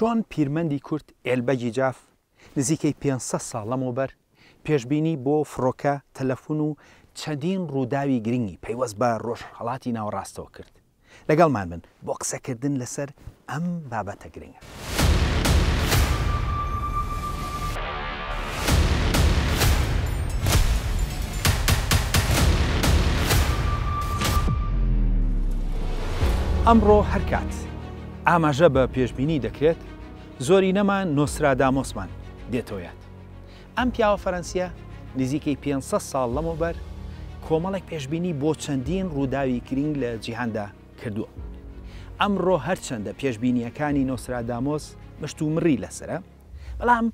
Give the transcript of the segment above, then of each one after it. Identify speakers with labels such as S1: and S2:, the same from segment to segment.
S1: چۆن پیرمەندی کورد ئێلبەگی جاف نزیکەی پێنج سەد ساڵ لەمەوبەر پێشبینی بۆ فڕۆکە، تەلەفون و چەندین ڕووداوی گرنگی پەیوەست بە ڕۆژهەڵاتی ناوەڕاستەوە کرد. لەگەڵمان بن بۆ قسەکردن لەسەر ئەم بابەتە گرنگە. ئەمڕۆ هەرکات ئاماژە بە پێشبینی دەکرێت، زۆرینەمان نۆسترادامۆسمان دێتەوە یاد. ئەم پیاوە فەرەنسییە نزیکەی پێنج سەد ساڵ لەمەوبەر کۆمەڵێک پێشبینی بۆ چەندین ڕووداوی گرنگ لە جیهاندا کردووە. ئەمڕۆ هەرچەندە پێشبینییەکانی نۆسترادامۆس مشتومڕی لەسەرە، بەڵام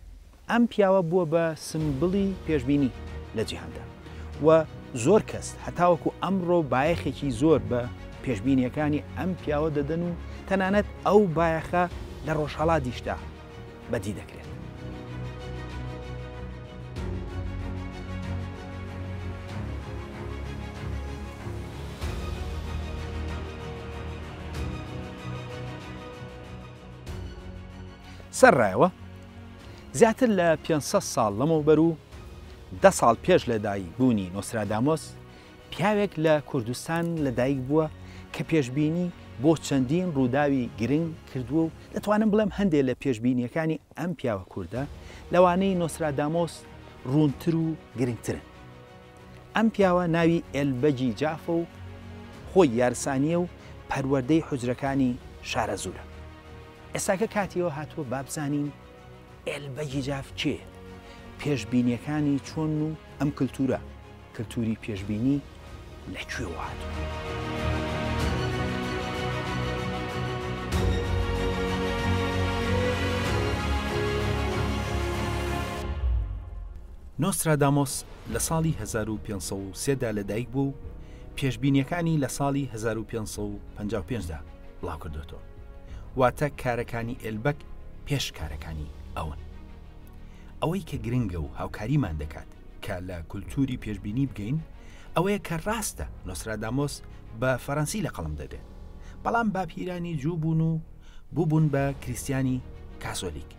S1: ئەم پیاوە بووە بە سمبڵی پێشبینی لە جیهاندا و زۆر کەس هەتاوەکو ئەمڕۆ بایەخێکی زۆر بە پێشبینییەکانی ئەم پیاوە دەدەن و تەنانەت ئەو بایەخە لە ڕۆژهەڵاتیشدا بەدی دەکرێت. سەرڕایەوە زیاتر لە 500 ساڵ لەمەوبەر و دە ساڵ پێش لەدایک بوونی نۆسرادامۆس پیاوێک لە کوردستان لەدایک بووە کە پێشبینی بۆ چەندین ڕووداوی گرنگ کردووە و دەتوانم بڵێم هەندێک لە پێشبینیەکانی ئەم پیاوە کوردە لەوانەی نۆسرادامۆس ڕوونتر و گرنگترن. ئەم پیاوە ناوی ئێلبەگی جافە و خۆی یارسانیە و پەروەردەی حجرەکانی شارەزوورە. ئێستاکە کاتیەوە هاتووە بابزانین ئێل بەگی جاف کێیە؟ پێشبینیەکانی چۆنن و ئەم کلتورە، کلتوری پێشبینی، لە کوێوە هاتووە؟ نۆسترادامۆس لە ساڵی هەزار و پێنج سەد و سێ دا لەدایکبووە و پێشبینیەکانی لە ساڵی هەزار و پێنج سەد و پەنجا و پێنج دا، بڵاوکردۆتەوە واتە کارەکانی ئێلبەک پێش کارەکانی ئەون ئەوەی کە گرنگە و هاوکاریمان دەکات کە لە کولتوری پێشببینی بگەین ئەوەیە کە ڕاستە نۆسرادامۆس بە فەرەنسی لە قەڵم دەبێت بەڵام باپیرانی جوو بوون و بووبوون بە کریسیانی کاسۆلیک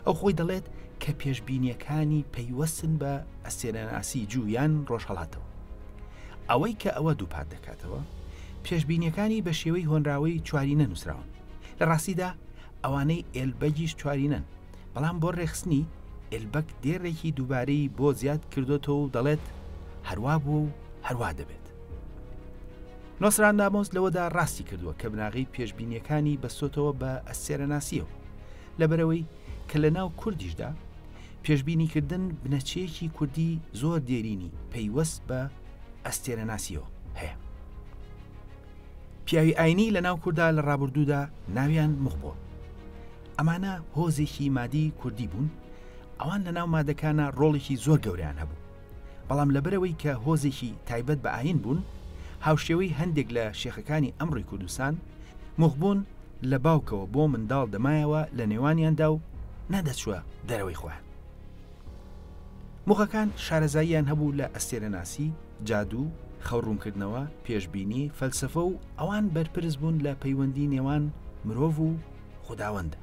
S1: ئەو خۆی دەڵێت کە پێشببینیەکانی پەیوەستن بە ئەسێنەناسی جویان ڕۆژهڵاتەوە ئەوەی کە ئەوە دووپات دەکاتەوە پێشببینیەکانی بە شێوەی هۆنراوەی چواری نەنووسراون لە ڕاستیدا ئەوانەی ئێلبەگیش چوارینەن بەڵام بۆ ڕێخستنی ئێلبەک دێڕێکی دووبارەی بۆ زیاد کردوەوە و دەڵێت هەروا بوو و هەروا دەبێت نۆسترادامۆس لەوەدا ڕاستی کردووە کە بناغەی پێشبینیەکانی بەستۆتەوە بە ئەستێرەناسیەوە لەبەرەوەی کە لە ناو کوردیشدا پێشبینیکردن بنەچەیەکی کوردی زۆر دێرینی پەیوەست بە ئەستێرەناسیەوە هەیە پیاوی ئاینی لە ناو کووردا لە ڕابردوودا ناویان مخبۆ ئەمانە هۆزێکی مادی کوردی بوون ئەوان لە ناو مادەکانە ڕۆڵێکی زۆر گەوریان هەبوو بەڵام لەبەرەوەی کە هۆزێکی تایبەت بە ئاین بوون هاوشێوەی هەندێک لە شێخەکانی ئەمڕی کوردستان مخبوون لە باوکەوە بۆ منداڵ دەمایەوە لە نێوانیاندا و نەدەچوە دەرەوەی خۆیان مخەکان شارەزاییان هەبوو لە ئەستێرەناسی جادوو خەوڕوونکردنەوە پێشببینی فەلسفە و ئەوان بەرپرس بوون لە پەیوەندی نێوان مرۆڤ و خوداوەندە.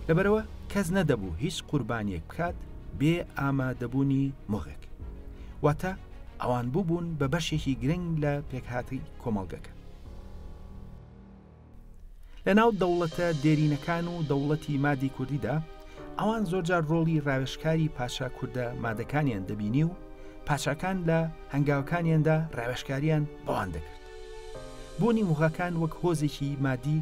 S1: لەبەرئەوە کەس نەدەبوو هیچ قوربانیەک بکات بێ ئامادەبوونی مغێک. واتە ئەوان بووبوون بە بەشێکی گرنگ لە پێکهاتەی کۆمەڵگەکە. لە ناو دەوڵەتە دێرینەکان و دەوڵەتی مادی کوردیدا ئەوان زۆرجار ڕۆڵی ڕاوێشکاری پاشا کووردە مادەکانیان دەبینی و پاشاکان لە هەنگاوەکانیاندا ڕاوێشکاریان بەوان دەکرد. بوونی موغاکان وەک هۆزێکی مادی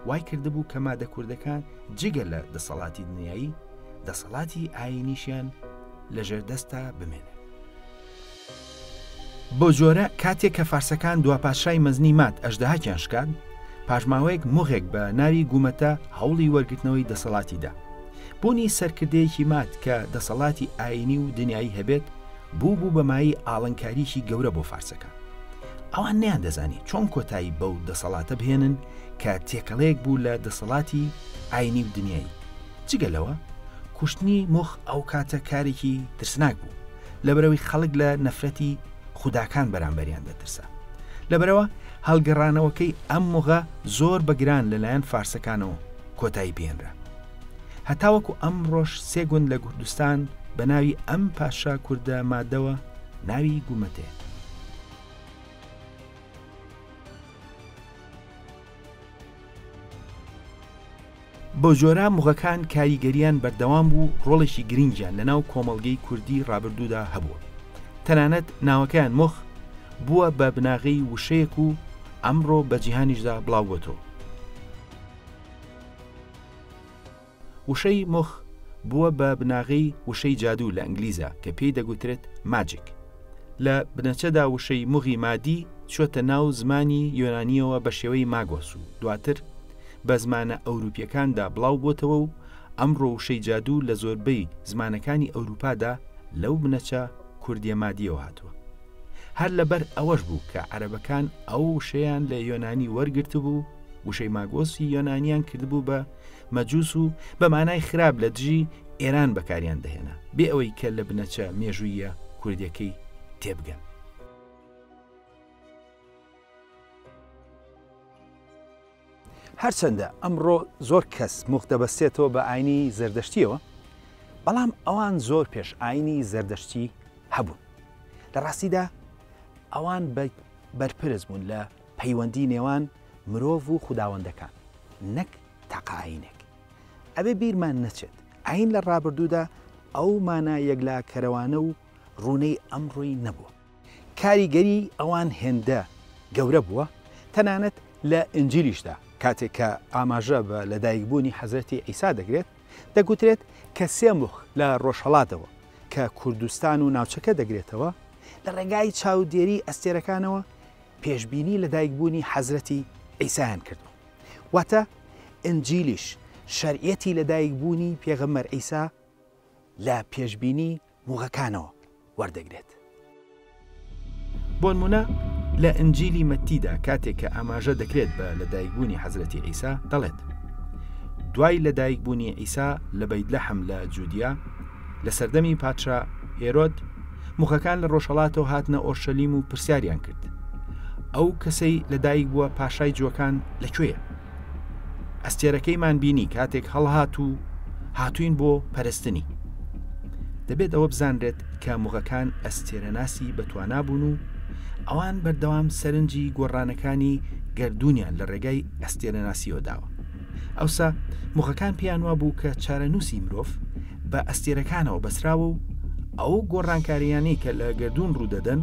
S1: وای کردبوو کە مادە کوردەکان جگە لە دەسەڵاتی دنیایی دەسەڵاتی ئاینیشیان لەژێر دەستا بمێنێت. بۆ جۆرە کاتێک کە فارسەکان دواپاشای مەزنی مات ئەشدەهاکیان شکان پاشماوەیەک مغێک بە ناوی گوومەتە هەوڵی وەرگرتنەوەی دەسەڵاتیدا بوونی سەرکردەیەکی مات کە دەسەڵاتی ئاینی و دنیایی هەبێت بوو بوو بەمایی ئاڵنکاریی گەورە بۆ فارسەکە ئەوان نەیاندەزانی چۆن کۆتایی بەو دەسەڵاتە بهێنن کە تێکەڵەیەک بوو لە دەسەڵاتی ئاینی و دنیای جگە لەوە کوشتنی مخ ئەو کاتە کارێکی ترسناک بوو لەبەرەوەی خەڵک لە نەفرەتی خوداکان بەرامبەریان دەترسا لەبەرەوە هەڵگەڕانەوەکەی ئەم مغە زۆر بەگران لەلایەن فارسەکانەوە کۆتایی پێێنرا هەتاوەکو ئەمڕۆش سێ گوند لە کوردستان بە ناوی ئەم پاشا کوردە مادەوە ناوی گومەتێ بۆ جۆرە مغەکان کاریگەریان بەردەوام بوو ڕۆڵێکی گرنگیان لەناو کۆمەڵگەی کوردی ڕابردوودا هەبووە تەنانەت ناوەکەیان مخ بووە بە بناغی وشەیەک و ئەمڕۆ بە جیهانیشدا بڵاوەتەوە وشەی، مخ، بووە بە بناغەی وشەی جادوو لە ئینگلیزە کە پێی دەگوترێت، Magic. لە بنەچەدا وشەی، مغی مادی، چووەتە ناو زمانی یۆنانییەوە بە شێوەی، Magos، و دواتر بە زمانە ئەورووپییەکاندا بڵاو بۆتەوە و ئەمڕۆ وشەی جادوو لە زۆربەی زمانەکانی ئەورووپادا لەو بنەچە کوردییە مادییەوە هاتووە. هەر لەبەر ئەوەش بوو کە عەرەبەکان ئەو وشەیان لە یۆنانی وەرگرتبوو وشەی ماگۆسی یۆنانیان کردبوو بە مەجووس و بە مانای خراپ لە دژی ئێران بەکاریان دەهێنا بێ ئەوەی کە لە بنەچە مێژوویە کوردەکەی تێبگەن هەرچەندە ئەمڕۆ زۆر کەس موخ دەبەستێتەوە بە ئاینی زەردەشتییەوە، بەڵام ئەوان زۆر پێش ئاینی زەردەشتی هەبوون. لە ڕاستیدا ئەوان بەرپرس بوون لە پەیوەندی نێوان مرۆڤ و خوداوەندەکان نەک تاقە ئاینێک. ئەبێ بیرمان نەچێت ئاین لە ڕابردوودا ئەو مانا یەکلاکەرەوانە و ڕوونەی ئەمڕۆی نەبووە. کاریگەریی ئەوان هێندە گەورە بووە، تەنانەت لە ئینجیلیشدا کاتێک کە ئاماژە بە لەدایکبوونی حەزرەتی عیسا دەکرێت، دەگوترێت کە سێ مخ لە ڕۆژهەڵاتەوە کە کوردستان و ناوچەکە دەگرێتەوە، لە ڕێگای چاودێریی ئەستێرەکانەوە پێشبینی لەدایکبوونی حەزرەتی عیسایان کردووە. واتە ئینجیلیش شەرعیەتی لەدایکبوونی پێغەمبەر عیسا لە پێشبینی موغەکانەوە وەردەگرێت. بۆنمونە لە ئنجیلی مەتتیدا کاتێک کە ئاماژە دەکرێت بە لەدایکبوونی حەزرەتی عیسا دەڵێت دوای لەدایکبوونی عیسا لە بەیدلەحم لە جودیا لە سەردەمی پادشا هێرۆد مخەکان لە ڕۆژهڵاتەوە هاتنە ئۆرشەلیم و پرسیاریان کرد ئەو کەسەی لەدایک بووە پاشای جوەکان لەکوێیە؟ ئەستێرەکەیمان بینی کاتێک هەڵهات و هاتوین بۆ پەرستنی دەبێت ئەوە بزانرێت کە مغەکان ئەستێرەناسی بەتوانا بوون و ئەوان بەردەوام سەرنجی گۆڕانەکانی گردردونیان لە ڕێگای ئەستێرەناسیەوە داوە ئەوسا مغەکان پێیان وا بوو کە چارەنووسی مرۆڤ بە ئەستێرەکانەوە بەسراوە و ئەو گۆڕانکاریانەی کە لە گردون ڕوودەدەن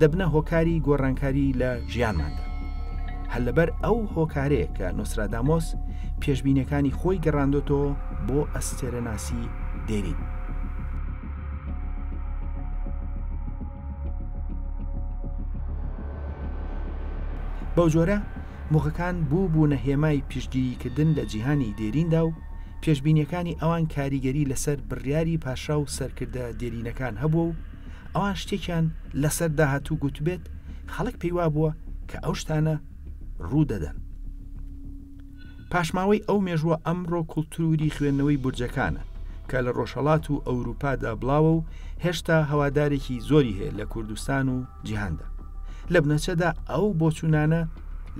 S1: دەبنە هۆکاری گۆڕانکاری لە ژیانماندا هەر لەبەر ئەو هۆکارەیە کە نوسرادامۆس پێشببینەکانی خۆی گەڕاندۆتەوە بۆ ئەستێرەناسی دێرین بەو جۆرە مخەکان بوو بوو نە هێمای پیشگیریکردن لە جیهانی دێریندا و پێشبینیەکانی ئەوان کاریگەری لەسەر بڕیاری پاشا و سەرکردە دێرینەکان هەبوو و ئەوان شتێکیان لەسەر داهاتوو گوتبێت خەڵک پێیوا بووە کە ئەو شتانە ڕوو دەدەن پاشماوەی ئەو مێژووە ئەمڕۆ کولتوری خوێندنەوەی برجەکانە کە لە ڕۆژهڵات و ئەوروپادا بڵاوە و هێشتا هەوادارێکی زۆری هەیە لە کوردستان و جیهاندا لە بنەچەدا ئەو بۆچوونانە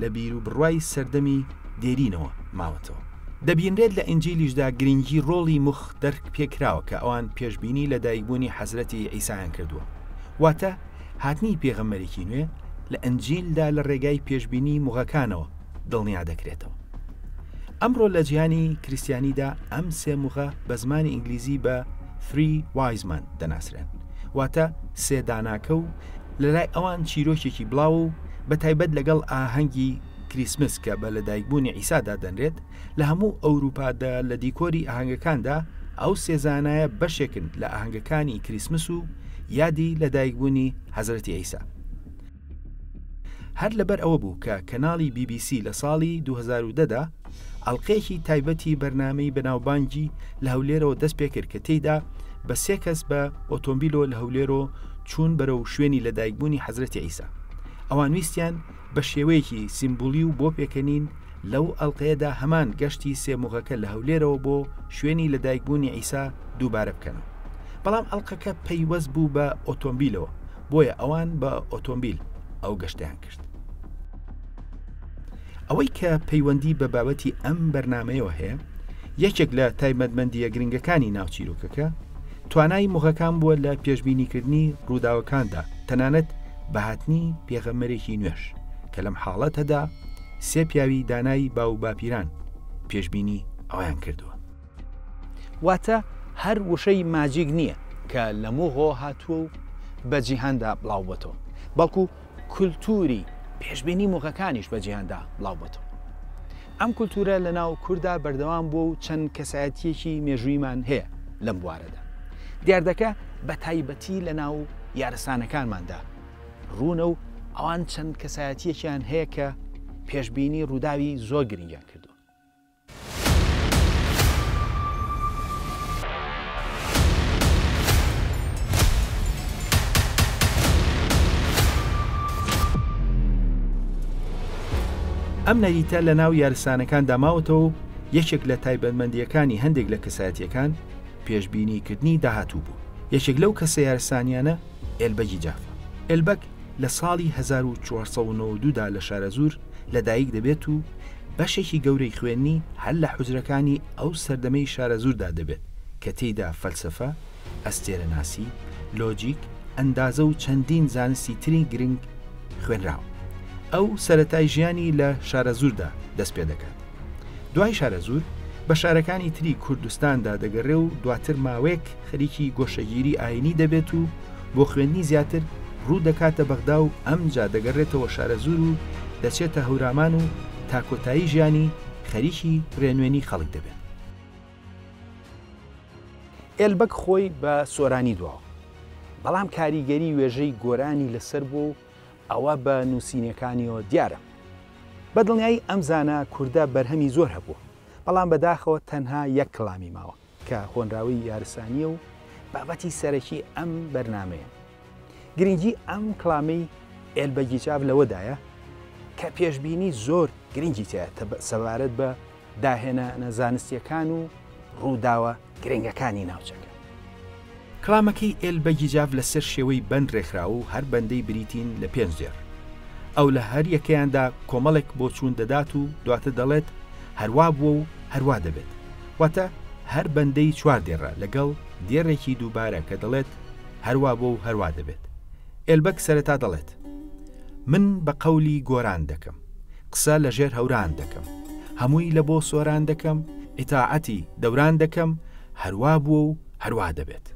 S1: لە بیر و بڕوای سەردەمی دێرینەوە ماوەتەوە دەبینرێت لە ئینجیلیشدا گرنگی ڕۆڵی موخ دەرک پێکراوە کە ئەوان پێشبینی لە دایکبوونی حەزرەتی عیسایان کردووە واتە هاتنی پێغەمەرێکی نوێ لە ئەنجیلدا لە ڕێگای پێشبینی موغەکانەوە دڵنیا دەکرێتەوە ئەمڕۆ لە جیهانی کریسیانیدا ئەم سێ موغە بە زمانی ئینگلیزی بە فری وایزمان دەناسرێن واتە سێداناکە و لەلای ئەوان چیرۆکێکی بڵاو و بە تایبەت لەگەڵ ئاهەنگی کریسمس کە بە لەدایکبوونی عیسا دادەنرێت، لە هەموو ئەورووپادا لە دیکۆری ئاهەنگەکاندا، ئەو سێ زانایە بەشێکن لە ئاهەنگەکانی کریسمس و یادی لەدایکبوونی حەزرەتی عیسا. هەر لەبەر ئەوە بوو کە کەناڵی بی بی سی لە ساڵی دوو هەزار و دە دا ئەڵقەیەکی تایبەتی بەرنامەی بەناوبانگی لە هەولێرەوە دەست پێ کرد کە تێیدا بە سێ کەس بە ئۆتۆمبیلەوە لە هەولێرەوە چوون بەرەو شوێنی لەدایکبوونی حەزرەتی عیسا ئەوان ویستیان بە شێوەیەکی سیمبولی و بۆ پێکەنین، لەو ئەڵقەیەدا هەمان گەشتی سێ مغەکە لە هەولێرەوە بۆ شوێنی لە دایک بوونی عیسا دووبارە بکەن. بەڵام ئەڵقەکە پەیوەست بوو بە ئۆتۆمبیلەوە، بۆیە ئەوان بە ئۆتۆمبیل ئەو گەشتەیان کرد. ئەوەی کە پەیوەندی بە بابەتی ئەم بەرنامەیەوە هەیە، یەکێک لە تایبەتمەندییە گرنگەکانی ناو چیرۆکەکە، توانای مغەکان بووە لە پێشبینیکردنی ڕووداوەکاندا، تەنانەت بە هاتنی پێغەمبەرێکی نوێش، کە لەم حاڵەتەدا سێ پیاوی دانای باوباپیران پێشبینی ئەویان کردووە. واتە هەر وشەی ماجیک نییە کە لە موغۆ هاتووە و بە جیهاندا بڵاوبووەتەوە، بەڵکو کولتووری پێشبینی موغەکانیش بە جیهاندا بڵاو بۆتەوە. ئەم کولتوورە لە ناو کورددا بەردەوام بووە و چەند کەسایەتییەکی مێژوویمان هەیە لەم بوارەدا. دیاردەکە بە تایبەتی لە ناو یارسانەکانماندا روونە و ئەوان چەند کەسایەتییەکیان هەیە کە پێشبینی رووداوی زۆر گرنگیان کردووە. ئەم نەریتە لە ناو یارسانەکاندا ماوەتەوە و یەکێک لە تایبەتمەندیەکانی هەندێک لە کەسایەتەکان پێشببینیکردنی داهاتوو بوو یەکێک لەو کەسە یارسانیانە ئێلبەگی جافە ئەلبەک لە ساڵی هەزار و چوار سەد و نەوەد و دوو دا لە شارەزوور لەدایک دەبێت و بەشێکی گەورەی خوێندنی هەر لە حوجرەکانی ئەو سەردەمەی شارەزووردا دەبێت کە تێیدا فەلسەفە، ئەستێرەناسی، لۆجیک، ئەندازە و چەندین زانستی تری گرنگ خوێنراون. ئەو سەرەتای ژیانی لە شارەزووردا دەست پێ دەکات. دوای شارەزوور بە شارەکانی تری کوردستاندا دەگەڕێ و دواتر ماوەیەک خەریکی گۆشەگیری ئاینی دەبێت و بۆ خوێندنی زیاتر ڕوو دەکاتە بەغدا و ئەمجا دەگەڕێتەوە شارەزوور و دەچێتە هەورامان و تا کۆتایی ژیانی خەریکی ڕێنوێنی خەڵک دەبێت. ئێلبەگ خۆی بە سۆرانی دواوە، بەڵام کاریگەری وێژەی گۆرانی لەسەر بووە و ئەوە بە نووسینەکانیەوە دیارە. بەدڵنیایی ئەم زانا کوردە بەرهەمی زۆر هەبووە، بەڵام بەداخەوە تەنها یەک کەڵامی ماوە. کە هۆنراوەی یارسانییە و بابەتی سەرەکی ئەم بەرنامەیە. گرنگی ئەم کڵامەی ئێلبەگی جاف لەوەدایە کە پێشبینی زۆر گرنگی تیا سەبارەت بە داهێنانە زانستییەکان و ڕووداوە گرنگەکانی ناوچەکە. کلامەکەی ئێل بەگیجاڤ لە سەر شێوەی بەند رێکخراوە و هەر بەندەی بریتین لە پێنج دێڕ. ئەو لە هەر یەکەیاندا کۆمەڵێک بۆچوون دەدات و دواتر دەڵێت هەروا بووە و هەروا دەبێت. واتە هەر بەندەی چوار دێڕە لەگەڵ دێڕێکی دووبارە کە دەڵێت هەروا بووە و هەروا دەبێت. ئێلبەگ سەرەتا دەڵێت من بە قەولی گۆران دەکەم. قسە لە ژێر هەوران دەکەم. هەمووی لە بۆ سۆران دەکەم. ئیتاعەتی دەوران دەکەم. هەروا بووە و هەروا دەبێت.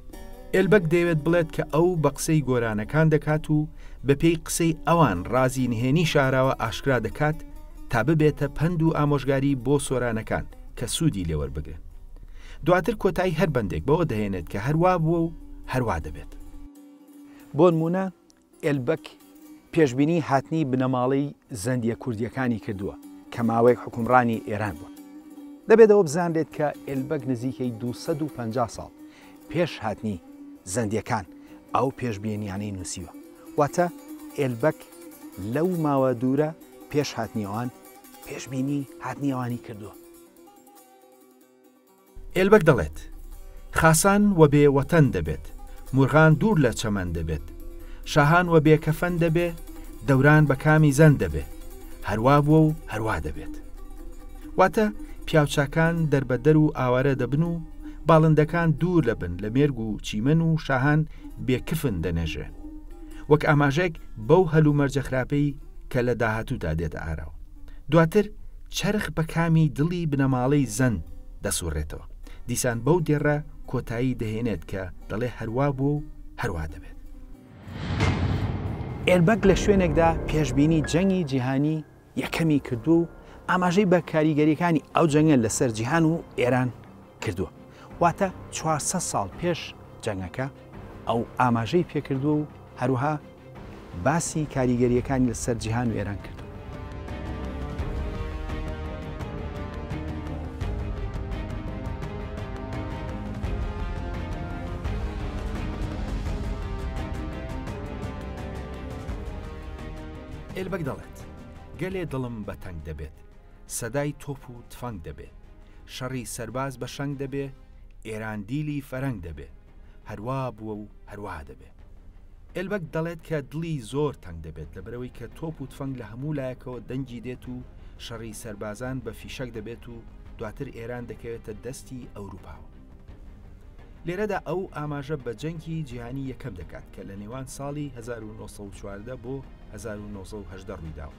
S1: ئێلبەگ دەیەوێت بڵێت کە ئەو بە قسەی گۆرانەکان دەکات و بە پێی قسەی ئەوان ڕازی نهێنی شاراوە ئاشکرا دەکات تا ببێتە پەند و ئامۆژگاری بۆ سۆرانەکان کە سوودی لێ وەربگرن. دواتر کۆتایی هەر بەندێک بەوە دەهێنێت کە هەروا بووە و هەروا دەبێت. بۆنموونە، ئێلبەک پێشبینیی هاتنی بنەماڵەی زەندییە کوردییەکانی کردووە کە ماوەیەک حوکمڕانی ئێران بوون. دەبێت ئەوە بزانرێت کە ئێلبەک نزیکەی دوو سەد و پەنجا ساڵ پێش هاتنی زەندییەکان ئەو پێشبینییانەی نووسیوە. واتە ئێلبەک لەو ماوە دوورە پێش هاتنی ئەوان پێشبینیی هاتنی ئەوانی کردووە. ئێلبەگ دەڵێت، خاسان وە بێ وەتەن دەبێت، مورغان دوور لە چەمەن دەبێت، شاهان وە بێ کەفەن دەبێ، دەوران بە کامی زەن دەبێ، هەروا بووە و هەروا دەبێت. واتە، پیاوچاکان دەربەدەر و ئاوارە دەبن و باڵندەکان دوور لە بن لە مێرگ و چیمەن و شاهان بێ کفن دەنێژرێن. وەک ئاماژەێک بەو هەلومەرجە خراپەی کە لە داهاتوودا دێتە ئاراوە. دواتر چەرخ بە کامی دڵی بنەماڵەی زەن دەسوڕێتەوە دیسان بەو دێڕە کۆتایی دەهێنێت کە دەڵێ هەروا بوو و هەروا دەبێت. ئێربەگ لە شوێنێکدا پێشبینی جەنگی جیهانی یەکەمی کردووە و ئاماژەی بە کاریگەرییەکانی ئەو جەنگە لەسەر جیهان و ئێران کردووە واتە چوار سەد ساڵ پێش جەنگەکە ئەو ئاماژەی پێکردووە و هەروەها باسی کاریگەرییەکانی لەسەر جیهان و ئێران کردووە. ئێلبەگ دەڵێت، گەلێ دڵم بە تەنگ دەبێت، سەدای تۆپ و تفەنگ دەبێ شەڕی سەرباز بە شەنگ دەبێ ئێران دیلی فەرەنگ دەبێ هەروا بووە و هەروا دەبێ ئێلبەگ دەڵێت کە دڵی زۆر تەنگ دەبێت لەبەرەوەی کە تۆپ و تفەنگ لە هەموو لایەکەوە دەنگی دێت و شەڕی سەربازان بە فیشەک دەبێت و دواتر ئێران دەکەوێتە دەستی ئەوروپاوە لێرەدا ئەو ئاماژە بە جەنگی جیهانی یەکەم دەکات کە لە نێوان ساڵی 1940 بۆ 1970 ڕوویداوە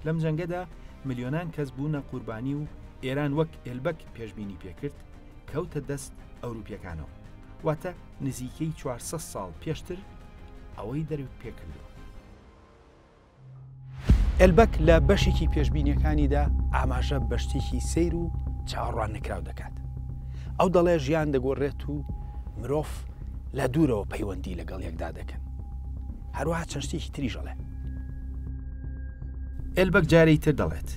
S1: لەم جەنگەدا ملیۆنان کەس بوونە قوربانی و ئێران وەک ئێلبەک پێشببینی پێکرد کەوتە دەست ئەوروپیەکانەوە واتە نزیکەی 400 ساڵ پێشتر ئەوەی دەروک پێکردوە ئەلبەک لە بەشێکی پێشببینیەکانیدا ئاماژە بە شتێکی سیر و چاوەڕوان نکراو دەکات ئەو دەڵێ ژیان دەگۆڕێت و مرۆڤ لە دوورەوە پەیوەندی لەگەڵ یەکدا دەکەن هەروەها چەند شتێکی تریش ئەڵێ. ئێلبەگ جارێی تر دەڵێت،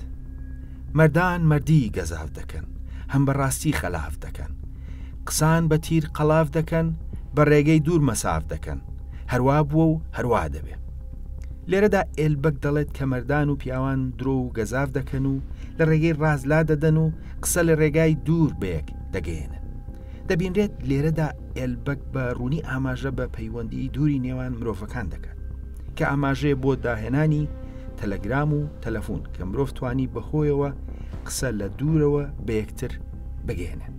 S1: مەردان مەردی گەزاف دەکەن، هەم بە ڕاستی خەلاف دەکەن. قسان بە تیر قەڵاف دەکەن، بە ڕێگەی دوور مەساف دەکەن. هەروا بووە و هەروا دەبێ. لێرەدا ئێلبەگ دەڵێت کە مەردان و پیاوان درۆ و گەزاف دەکەن و لە ڕێگەی ڕاست لا دەدەن و قسە لە ڕێگای دوور بەیەک دەگەیەنن. دەبینرێت لێرەدا ئێلبەک بە ڕوونی ئاماژە بە پەیوەندی دووری نێوان مرۆڤەکان دەکات کە ئاماژەیە بۆ داهێنانی تەلەگرام و تەلەفۆن کە مرۆڤ توانی بەهۆیەوە قسە لە دوورەوە بە یەکتر بگەێنن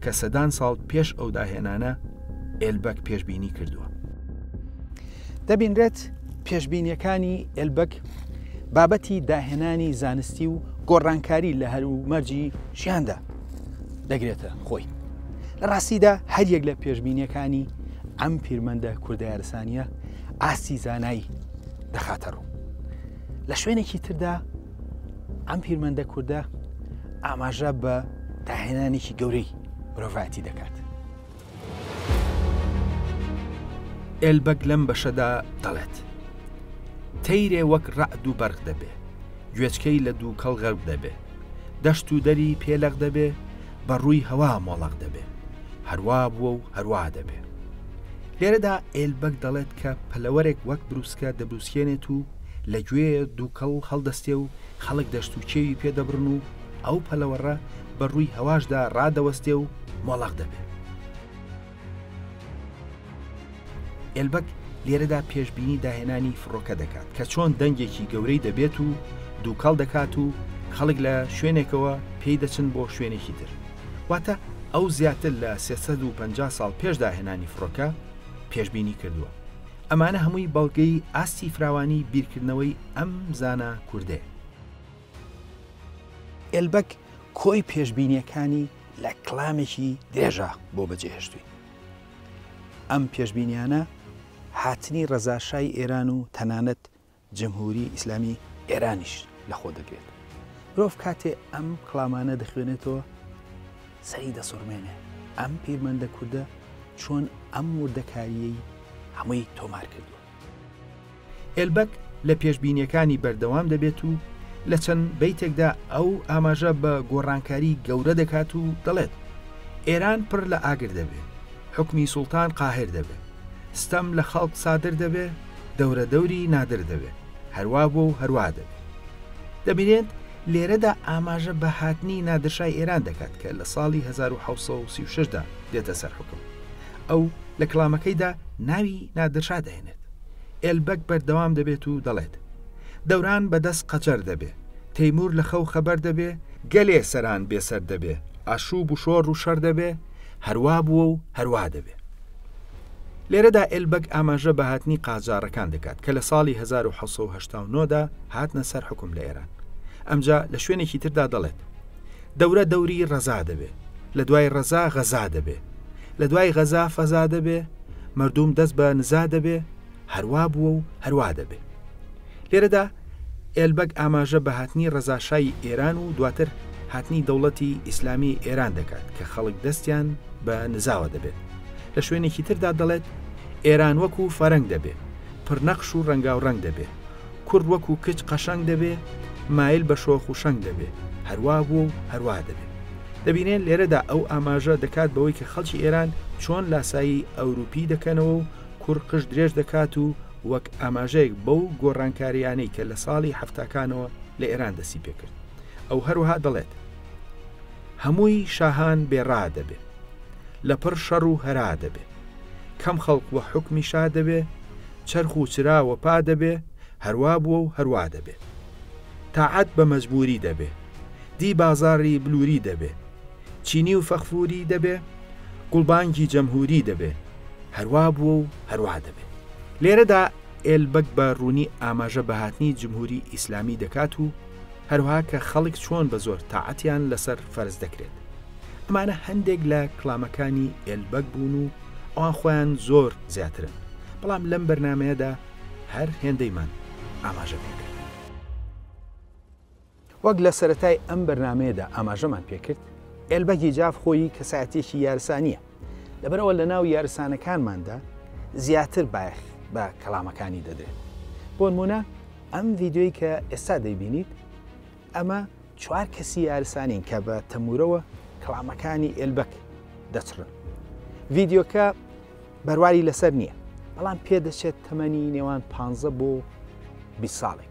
S1: کە سەدان ساڵ پێش ئەو داهێنانە ئێلبەک پێشببینی کردووە دەبینرێت پێشببینیەکانی ئێلبەک بابەتی داهێنانی زانستی و گۆڕانکاری لە هەروو مەرجی ژیاندا دەگرێتە خۆی لە ڕاستیدا هەریەک لە پێشبینیەکانی ئەم پیرمەندە کوردارسانیە ئاستی زانایی دەخاتە ڕوو لە شوێنێکی تردا ئەم پیرمەندە کووردە ئاماژە بە داهێنانێکی گەورەی مرۆڤایەتی دەکات ئێلبەگ لەم بەشەدا دەڵێت، تەیرێ وەک رەعد و بەرق دەبێ، گوێچکەی لە دووکەڵ غەرق دەبێ، دەشت و دەری پێ لەق دەبێ، بە رووی هەوا مۆڵەق دەبێ، هەروا بووە و هەروا دەبێ. لێرەدا ئێلبەگ دەڵێت کە پەلەوەرێک وەک برووسکە دەبرووسکێنێت و لە گوێ دووکەڵ هەڵدەستێ و خەڵک دەشت و کێوی پێ دەبڕن و ئەو پەلەوەڕە بە ڕووی هەواشدا ڕادەوەستێ و مۆڵەق دەبێ. ئێلبەک لێرەدا پێشبینی داهێنانی فڕۆکە دەکات کە چۆن دەنگێکی گەورەی دەبێت و دووکەڵ دەکات و خەڵک لە شوێنێکەوە پێی دەچن بۆ شوێنێکی تر واتە ئەو زیاتر لە 350 ساڵ پێش داهێنانی فڕۆکە پێشببینی کردووە ئەمانە هەمووی بەڵگەی ئاستی فراوانی بیرکردنەوەی ئەم زانە کوردێ ئێلبەگ کۆی پێشبینییەکانی لە کلامێکی درێژە بۆ بەجێهێشتووی ئەم پێشبینیانە هاتنی ڕەزاشای ئێران و تەنانەت جمهوری ئیسلامی ئێرانیش لەخۆ دەگرێت مرۆڤ کاتێ ئەم کلامانە دەخوێنێتەوە سەری دەسڕمێنێ ئەم پیرمەندە کوردە چۆن ئەم وردەکاریەی هەمووی تۆمار کردووە ئێلبەک لە پێشبینیەکانی بەردەوام دەبێت و لە چەند بیتێکدا ئەو ئاماژە بە گۆڕانکاری گەورە دەکات و دەڵێت ئێران پڕ لە ئاگر دەبێت حکمی سوڵتان قاهر دەبێت ستەم لە خەڵک سادر دەبێت دەورە دەوری نادر دەبێت هەروا بۆ و هەروا دەبێت دەبینێت لێرەدا ئاماژە بە هاتنی نادرشای ئێران دەکات کە لە ساڵی 1936دا دێتە سەر حکم ئەو لە کڵامەکەیدا ناوی نادرشا دەهێنێت ئێلبەک بەردەوام دەبێت و دەڵێت دەوران بەدەست قەجەر دەبێ تەیمور لە خەو خەبەر دەبێ گەلێ سەران بێسەر دەبێ ئاشوب و شۆڕ و شەڕ دەبێ هەروا بووە و هەروا دەبێ لێرەدا ئێلبەک ئاماژە بە هاتنی قاجارەکان دەکات کە لە ساڵی 1970دا هاتنە سەر حکم لە ئێران ئەمجا لە شوێنێکی تردا دەڵێت دەورە دەوری ڕەزا دەبێ لە دوای ڕەزا غەزا دەبێ لە دوای غەزا فەزا دەبێ مردوم دەست بە نزا دەبێ هەروا بووە و هەروا دەبێ لێرەدا ئێلبەگ ئاماژە بە هاتنی ڕەزاشای ئێران و دواتر هاتنی دەوڵەتی ئیسلامی ئێران دەکات کە خەڵک دەستیان بە نزاوە دەبێت لە شوێنێکی تردا دەڵێت ئێران وەکو فەرەنگ دەبێت پرنەخش و ڕەنگاو ڕەنگ دەبێت کورد وەکوو کچ قەشەنگ دەبێ، مایل بە شۆخ و شەنگ دەبێ، هەروا بووە و هەروا دەبێ. دەبینێ لێرەدا ئەو ئاماژە دەکات بەوەی کە خەڵکی ئێران چۆن لاسایی ئەورووپی دەکەنەوە و کوڕ قژ درێژ دەکات و وەک ئاماژەیەک بەو گۆڕانکارییانەی کە لە ساڵی حەفتاکانەوە لە ئێران دەستی پێ کرد. ئەو هەروەها دەڵێت هەمووی شاهان بێ ڕا دەبێ، لەپڕ شەڕ و هەرا دەبێ، کەم خەڵق وە حوکمی شا دەبێ، چەرخ و چرا وەپا دەبێ هەروا بووە و هەروا دەبێ تاعەت بە مەجبووری دەبێ دی بازاڕی بلووری دەبێ چینی و فەغفووری دەبێ گوڵبانگی جەمهووری دەبێ هەروا بووە و هەروا دەبێ لێرەدا ئێلبەگ بە ڕوونی ئاماژە بە هاتنی جمهووری ئیسلامی دەکات و هەروەها کە خەڵک چۆن بە زۆر تاعەتیان لەسەر فەرز دەکرێت. ئەمانە هەندێک لە کلامەکانی ئێلبەگ بوون و ئەوان خۆیان زۆر زیاترن بەڵام لەم بەرنمەیەدا هەر هێندەیمان ئاماژە پێکرد. وەک لە سەرەتای ئەم بەرنمەیەدا ئاماژەمان پێکرد ئێلبەگی جاف خۆی کەسایەتێکی یارسانیە لەبەرەوە لە ناو یارسانەکانماندا زیاتر بایەخ بە کەلامەکانی دەدرێت بۆنمونە ئەم ڤیددیوی کە ئێستا دەیبینیت ئەمە چوار کەسی یارسانین کە بە تەمورەوە کڵامەکانی ئێلبەک دەچڕن. ڤیدیۆکە بەرواری لەسەر نییە، بەڵام پێدەچێت تەمەنی نێوان 15 بۆ 20 ساڵێک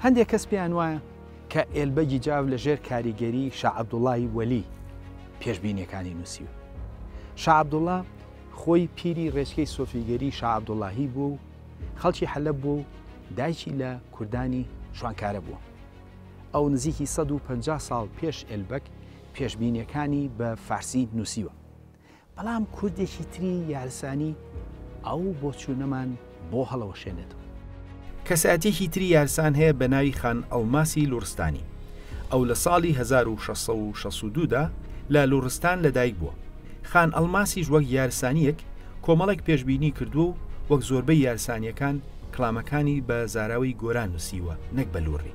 S1: هەندێک کەس پێیان وایە کە ئێلبەگی جاف لە ژێر کاریگەری شا عەبدوڵڵای وەلی پێشبینیەکانی نووسیوە. شا عەبدوڵڵا خۆی پیری ڕێچکەی سۆفیگەری شا عەبدوڵڵاهی بووە و خەڵکی حەلەب بووە و دایکی لە کوردانی شوانکارە بووە. ئەو نزیکی سەد و پەنجا ساڵ پێش ئێلبەگ پێشبینیەکانی بە فارسی نووسیوە، بەڵام کوردێکی تری یارسانی ئەو بۆچوونەمان بۆ هەڵەوەشێنێتەوە. کەسایەتیەکی تری یارسان هەیە بە ناوی خان ئەڵماسی لوڕستانی، ئەو لە ساڵی هەزار و شەش سەد و شەست و دوو دا لە لوڕستان لە دایک بووە. خان ئەڵماسیش وەک یارسانیەک کۆمەڵێک پێشبینی کردووە و وەک زۆربەی یارسانیەکان کڵامەکانی بە زاراوەی گۆران نووسیوە نەک بە لوڕی.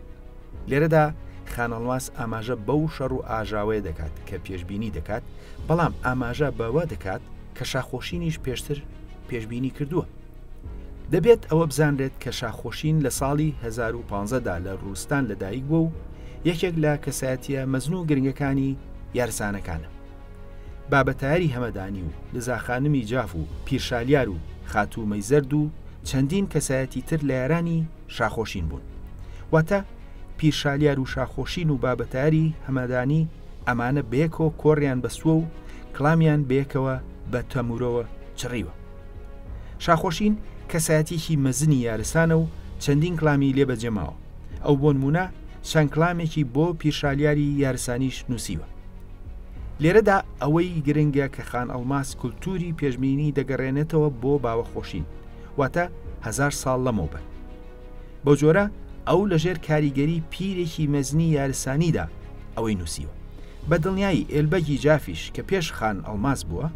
S1: لێرەدا خانەڵماس ئاماژە بەو شەڕ و ئاژاوەیە دەکات کە پێشببینی دەکات بەڵام ئاماژە بەوە دەکات کە شاخۆشینیش پێشتر پێشببینی کردووە دەبێت ئەوە بزانرێت کە شاخۆشین لە ساڵی 2015دا لە ڕوستان لەدایک بوو و یەکێک لە کەسایەتە مەزن و گرنگەکانی یارسانەکانە بابەتاری هەمەدانی و لزاخانمی جاف و پیرشالیار و خاتوو مەیزەرد و چەندین کەسایەتی تر لە یارانی شاخۆشین بوون واتە پیرشالیار و شاخۆشین و بابەتاری هەمەدانی ئەمانە بەیەکەوە کۆڕیان بەسووە و کلامیان بەیەکەوە بە تەمورەوە چڕیوە شاخۆشین کەسایەتێکی مەزنی یارسانە و چەندین کلامی لێ بەجێماوە ئەو بۆ نمونە چەند کلامێکی بۆ پیرشالیاری یارسانیش نووسیوە لێرەدا ئەوەی گرنگە کە خان ئەڵماس کولتوری پێشبینی دەگەڕێنێتەوە بۆ باوەخۆشین واتە هەزار ساڵ لەمەوبەر. بەو جۆرە ئەو لەژێر کاریگەری پیرێکی مەزنی یارسانیدا ئەوەی نووسیوە. بە دڵنیایی ئێلبەگی جافیش کە پێش خان ئەڵماس بووە،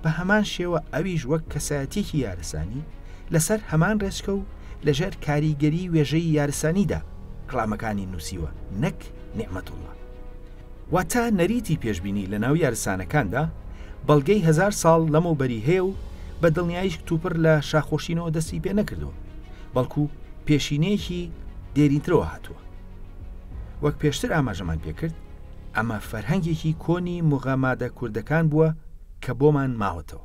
S1: بە هەمان شێوە ئەویش وەک کەسایەتییەکی یارسانی، لەسەر هەمان رێچکە و لەژێر کاریگەری وێژەی یارسانیدا کڵامەکانی نووسیوە نەک نیعمەتوڵڵا. واتە نەریتی پێشبینی لە ناو یارسانەکاندا بەڵگەی هەزار ساڵ لەمەوبەری هەیە و بە دڵنیاییش کتوپڕ لە شاخۆشینەوە دەستی پێ نەکردووە، بەڵکو پێشینەیەکی دێرینترەوە هاتووە. وەک پێشتر ئاماژەمان پێ کرد، ئەمە فەرهەنگێکی کۆنی موغەمادە کوردەکان بووە کە بۆمان ماوەتەوە.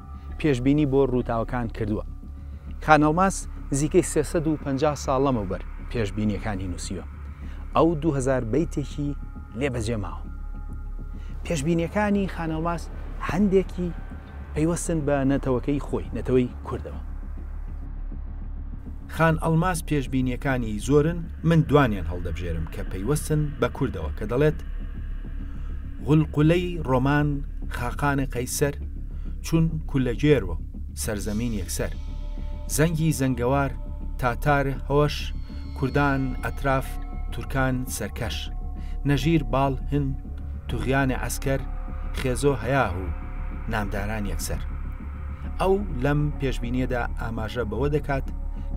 S1: پێشبینی بۆ رووداوەکان کردووە. خانەڵماس نزیکەی سێ سەد و پەنجا ساڵ لەمەوبەر پێشبینییەکانی نووسیوە. ئەو دوو هەزار بەیتێکی لێ بەجێماوە. پێشبینییەکانی خانەڵماس هەندێکی پەیوەستن بە نەتەوەکەی خۆی، نەتەوەی کوردەوە. خان ئەڵماس پێشبینییەکانی زۆرن، من دوانیان هەڵدەبژێرم کە پەیوەستن بە کوردەوە کە دەڵێت، غولقولەی ڕۆمان خاقان قەیسەر چون کولەگێر و سەرزەمین یەکسەر زەنگی زەنگەوار تاتار هۆش کوردان ئەتراف تورکان سەرکەش نەژیر باڵ هن توغیان عەسکەر خێزۆ هەیاه و نامداران یەکسەر ئەو لەم پێشبینیەدا ئاماژە بەوە دەکات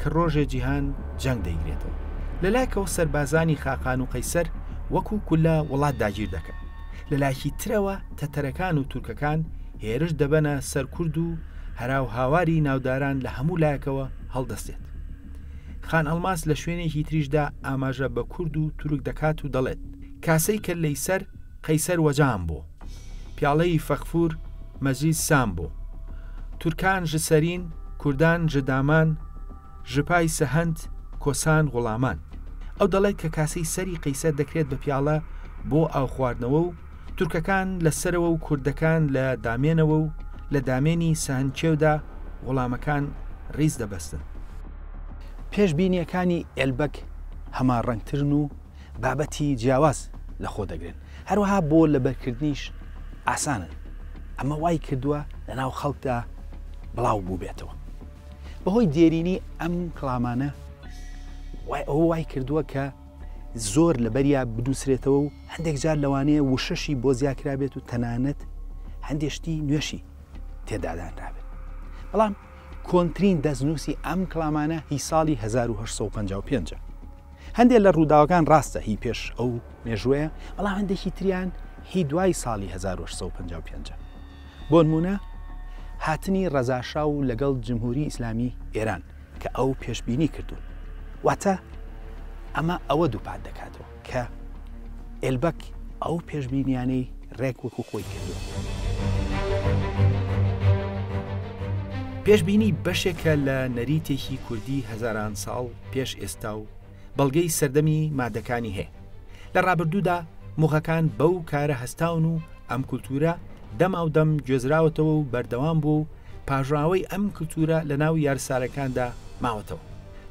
S1: کە ڕۆژێ جیهان جەنگ دەیگرێتەوە لەلایکەوە سەربازانی خاقان و قەیسەر وەکو کولە وڵات داگیر دەکەن، لەلایکی ترەوە تەتەرەکان و تورکەکان هێرش دەبەنە سەر کورد و هەراو هاواری ناوداران لە هەموو لایەکەوە هەڵدەستێت. خان ئەڵماس لە شوێنێکی تریشدا ئاماژە بە کورد و تورک دەکات و دەڵێت، کاسەی کەللەی سەر قەیسەر وەجام بۆ، پیاڵەی فەغفور مەجید سام بۆ، تورکان ژ سەرین، کوردان ژ دامان، ژپای سەهەند کۆسان غوڵامان ئەو دەڵێت کە کاسەی سەری قەیسەر دەکرێت بە پیاڵە بۆ ئاو خواردنەوە و تورکەکان لە سەرەوە و کوردەکان لە دامێنەوە و لە دامێنی سەهەند کێودا غوڵامەکان ڕیز دەبەستن. پێش بینیەکانی ئێلبەگ هەماڕەنگترن و بابەتی جیاواز لە خۆ دەگرن، هەروەها بۆ لەبەرکردنیش ئاسانن، ئەمە وای کردووە لە ناو خەڵکدا بڵاو بووبێتەوە. بەهۆی دێرینی ئەم کڵامانە وای ئەو وای کردووە کە زۆر لە بەریا بدوسرێتەوە و هەندێک جار لەوانەیە وشەشی بۆ زیاکرابێت و تەنانەت هەندێشتی نوێشی تێدادانرابێت بەڵام کۆنترین دەستنووسی ئەم کلامانە هی ساڵی 1955 هەندێک لە ڕووداوەکان ڕاستە هی پێش ئەو مێژوەیە بەڵام هەندێکی تریان هی دوای ساڵی 1955 بۆنموونە هاتنی ڕەزاشا و لەگەڵ جمهوری ئیسلامی ئێران کە ئەو پێشبینی کردوون. واتە ئەمە ئەوە دووپات دەکاتەوە کە ئێلبەک ئەو پێشبینیانەی ڕێک وەکو خۆی کردووە. پێشبینی بەشێکە لە نەریتێکی کوردی هەزاران ساڵ پێش ئێستا و، بەڵگەی سەردەمی مادەکانی هەیە. لە ڕابردوودا موغەکان بەو کارە هەستاون و ئەم کولتوورە دەماودەم گوێزراوەتەوە و بەردەوام بووە و پاژاوەی ئەم کلتوورە لە ناو یارسارەکاندا ماوەتەوە.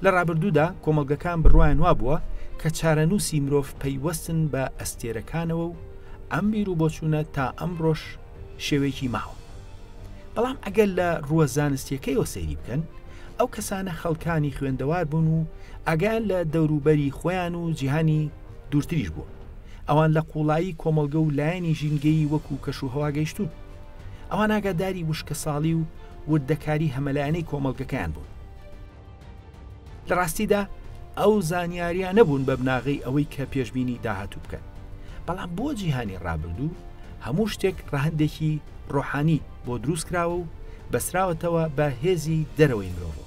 S1: لە ڕابردوودا کۆمەڵگەکان بڕوایان وابووە کە چارەنووسی مرۆڤ پەیوەستن بە ئەستێرەکانەوە و ئەم بیروبۆچوونە تا ئەمڕۆش شێوەیەکی ماوە. بەڵام ئەگەر لە ڕووە زانستیەکەیەوە سەیری بکەن، ئەو کەسانە خەڵکانی خوێندەوار بوون و ئاگایان لە دەوروبەری خۆیان و جیهانی دوورتریش بووە. ئەوان لە قوڵایی کۆمەڵگە و لایەنی ژینگەیی وەکو کەش و هەوا گەیشتوون. ئەوان ئاگاداری وشکەساڵی و وردەکاری هەمەلایەنەی کۆمەڵگەکەیان بوون. لە ڕاستیدا ئەو زانیاریان نەبوون بە بناغەی ئەوەی کە پێشببینی داهاتوو بکەن بەڵام بۆ جیهانی ڕابردوو هەموو شتێک ڕەهندێکی ڕۆحانی بۆ دروست کراوە و بەسراوەتەوە بە هێزی دەرەوەی مرۆڤ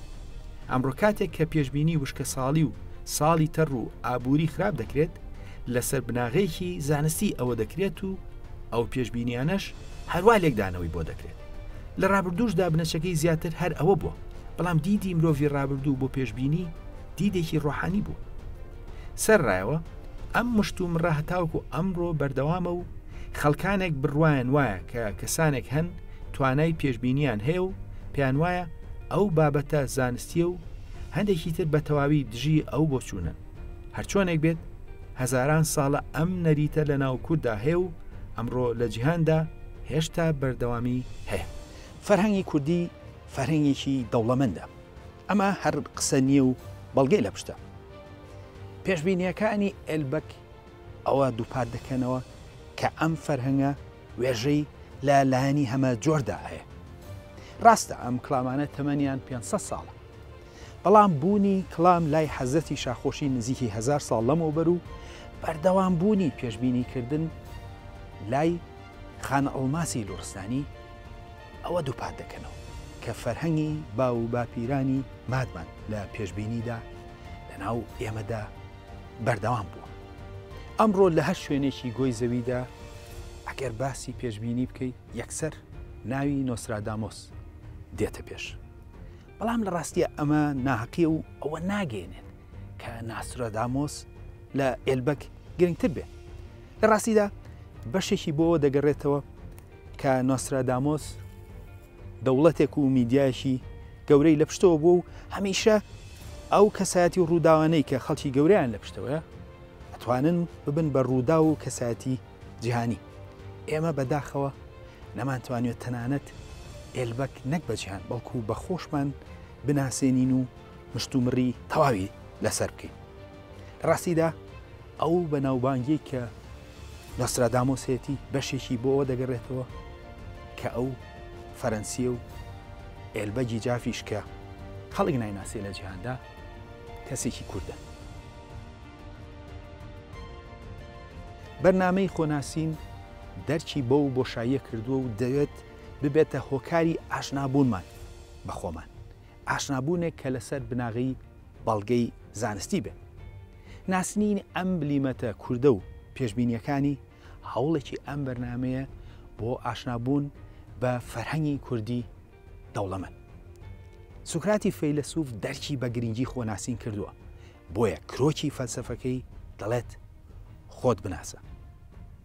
S1: ئەمڕۆ کاتێک کە پێشببینی وشکە ساڵی و ساڵی تەڕ و ئابووری خراپ دەکرێت لەسەر بناغەیەکی زانستی ئەوە دەکرێت و ئەو پێشببینیانەش هەروە لێکدانەوەی بۆ دەکرێت لە ڕابردووشدا بنەچەکەی زیاتر هەر ئەوە بووە بەڵام دیدی مرۆڤی ڕابردوو بۆ پێشببینی دیدێکی ڕۆحانی بوو سەر ڕایەوە ئەم مشت و مڕە هەتاوکو ئەمڕۆ بەردەوامە و خەڵکانێک بڕواان وایە کە کەسانێک هەن توانای پێشببینیان هەیە و پێیان وایە ئەو بابەتە زانستیە و هەندێکی تر بە تەواوی دژی ئەو بۆچوونن هەرچۆنێک بێت هەزاران ساڵە ئەم نەریتە لە ناو کووردا هەیە و ئەمڕۆ لە جیهاندا هێشتا بەردەوامی هەیە فەرهەنگی کوردی فەرهنگێکی دەوڵەمەندە ئەمە هەر قسە نییە و بەڵگەی لە پشتە پێشبینیەکانی ئەلبەک ئەوە دووپات دەکەنەوە کە ئەم فەرهەنگە وێژەی لە لایەنی هەمە جۆردا هەیە ڕاستە ئەم کلامانە تەمەنیان 500 ساڵە بەڵام بوونی کڵام لای حەزرەتی شاخۆشی نزیکی هەزار ساڵ لەمەوبەر و بەردەوام بوونی پێشبینی کردن لای خان ئەڵماسی لوڕستانی ئەوە دووپات دەکەنەوە کە فەرهەنگی باو و باپیرانی مادمان لە پێشبینیدا لەناو ئێمەدا بەردەوام بووە. ئەمڕۆ لە هەر شوێنێکی گۆی زەویدا ئەگەر باسی پێشبینی بکەی یەکسەر ناوی نۆسرادامۆس دێتە پێش. بەڵام لە ڕاستیا ئەمە ناهەقیە و ئەوە ناگەێنێت کە ناسرۆدامۆس لە ئێلبەک گرنگتر بێت لە ڕاستیدا بەشێکی بۆەوە دەگەڕێتەوە کە نۆسرادامۆس دەوڵەتێک و میدیایشی گەورەی لە پشتەوە بوو و هەمیشە ئەو کەسایەتی و ڕووداوانەی کە خەڵکی گەوریان لە پشتەوەە ئەتوانن ببن بە ڕوودا و کەسایەتی جیهانی، ئێمە بە داخەوە نەمانتوانیوە تەنانەت ئێلبەک نەک بە جیهان بەڵکو بە خۆشمان بناسێنین و مشتومڕی تەواوی لەسەر بکەین. لە ڕاستیدا ئەو بەناوبانگیەی کە نۆسترادامۆس هەیەتی بەشێکی بۆ ئەوە دەگەڕێتەوە کە ئەو فەرەنسیە و ئێلبەگی جافیش کە خەڵک نایناسێ لە جیهاندا کەسێکی کوردە. بەرنامەی خۆناسین دەرکی بەو بۆشاییە کردووە و دەوێت ببێتە هۆکاری ئاشنابوونمان بە خۆمان، ئاشنابوونێک کە لەسەر بناغەی بەڵگەی زانستی بێت. ناسنینی ئەم بلیمەتە کوردە و پێشبینییەکانی، هەوڵێکی ئەم بەرنامەیە بۆ ئاشنابوون بە فەرهەنگی کوردی دەوڵەمەند. سوکراتی فەیلەسوف دەرکی بە گرنگی خۆناسین کردووە، بۆیە کرۆکی فەلسەفەکەی دەڵێت خۆت بناسە.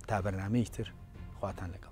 S1: تا بەرنامەیەکی تر خواتان لەگەڵ.